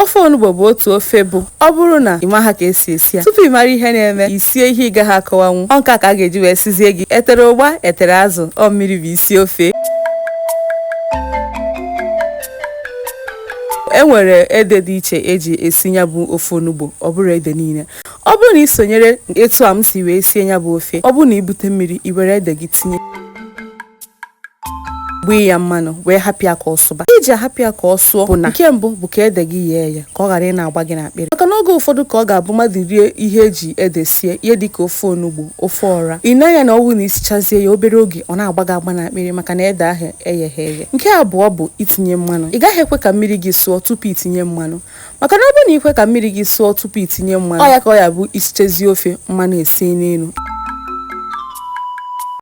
ofe onugbo bụ otu ofe bụ ọ bụrụ na ị maha ka esi esi ya tupu ị mara ihe na-eme isie ihe ị gaghị akọwanwu ọ nke a ka a ga-eji wee sịzie gị etere ụgba etere azụ ọ mmiri bụ isi ofe e nwere ede dị iche eji esi ya bụ ofe onugbo ọ bụrọ ede niile ọ bụrụ na ị sonyere etu a m si wee sie ya bụ ofe ọ bụrụ na ibute mmiri i were ede gị tinye gbee ya mmanụ wee hapụ ya ka ọ sụba ihe eji ahapụ ya ka ọ sụọ bụ na nke mbụ bụ ka ede gị yee eye ka ọ ghara ị na-agba gị n'akpịrị maka na oge ụfọdụ ka ọ ga-abụ mmadụ rie ihe eji ede sie ihe dịka ofe onugbo ofe ọra ị na ya na ọ wụ na isichazie ya obere oge ọ na-agba gị agba n'akpịrị maka na ede ahụ egheghị eghe nke abụọ bụ itinye mmanụ ị gaghị ekwe ka mmiri gị sụọ tupu itinye mmanụ maka na ọ bụrụ na ikwe ka mmiri gị sụọ tupu itinye mmanụ ọ ya ka ọ ya-abụ isichazie ofe mmanụ ese n'elu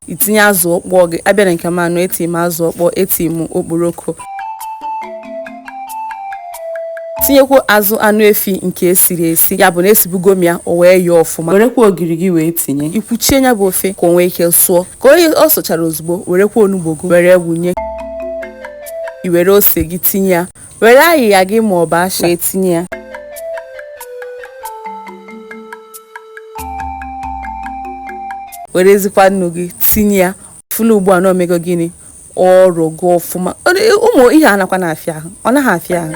itinye azụ ọkpọọ gị abịa na nke m anụ eti m azụ ọkpọọ eti m okporoko tinyekwuazị anụ efi nke esiri esi ya bụ na esibugo m ya o wee yee ọfụma werekwa ogiri gị wee tinye ikwuchie ya bụ ofe ka o nwee ike sụọ ka ọ sụchara ozugbo werekwa onugbo gị were wunye i were ose gị tinye ya Were ayịya gị maọbụ ịsha wee tinye ya. Werezikwa nnu gị tinye ya. Fụlụ ugbu a na o mego gịnị? Ọ rọgo ọfụma. Ụmụ ihe a nakwa na-afịa ahụ. Ọ naghị afịa ahụ.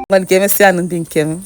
Ngwanụ ka emesịa nụ ndị nke m.